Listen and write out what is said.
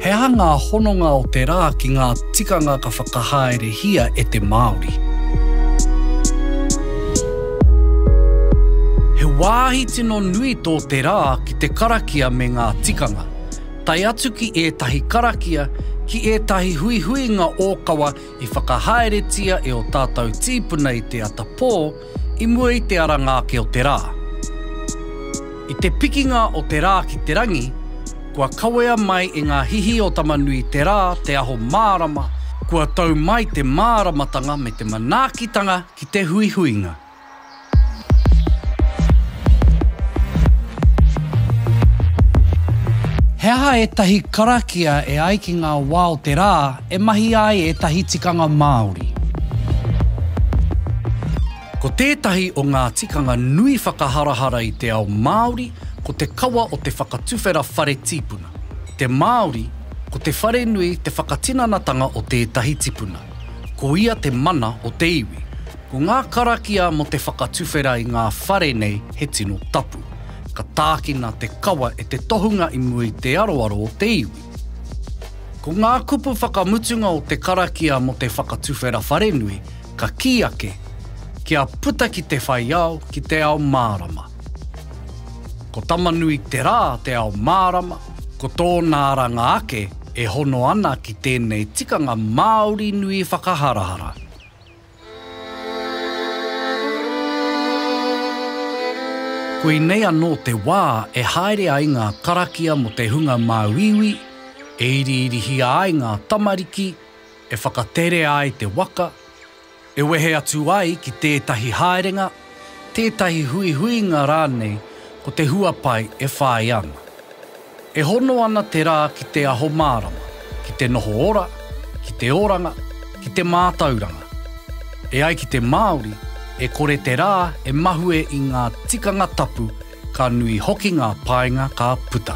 He aha ngā hononga o te rā ki ngā tikanga ka whakahaerehia e te Māori? He wāhi tino nui tō te rā ki te karakia me ngā tikanga. tae atu ki ētahi karakia, ki ētahi huihuinga ōkawa i whakahaeretia e ō tātou tīpuna i te ata pō i mua i te aranga ake o te rā. I te pikinga o te rā ki te rangi, kua kawea mai e ngā hihi o Tamanui te rā, te aho mārama, kua tau mai te māramatanga me te manaakitanga ki te huihuinga. He aha ētahi karakia e ai ki ngā wā o te rā e mahia ai ētahi tikanga Māori? Ko tētahi o ngā tikanga nui whakaharahara i te ao Māori ko te kawa o te whakatuwhera whare tīpuna. Te Māori, ko te wharenui te whakatinanatanga o tētahi tipuna. Ko ia te mana o te iwi. Ko ngā karakia mō te whakatuwhera i ngā whare nei he tino tapu. Ka tākina te kawa e te tohunga i mua i te aroaro o te iwi. Ko ngā kupu whakamutunga o te karakia mō te whakatuwhera wharenui ka kī ake, Kia puta ki te whai ao, ki te ao mārama. Ko Tamanui te rā te ao mārama, ko tōna aranga ake e hono ana ki tēnei tikanga Māori nui whakaharahara. Koinei anō te wā e haere ai ngā karakia mō te hunga māuiui, e iriirihia ai ngā tamariki, e whakaterea ai te waka, e wehe atu ai ki tētahi haerenga, tētahi huihuinga rānei ko te huapai e whāia ana. E hono ana te rā ki te aho mārama, ki te noho ora, ki te oranga, ki te mātauranga. E ai ki te Māori, e kore te rā e mahue i ngā tikanga tapu, ka nui hoki ngā painga ka puta.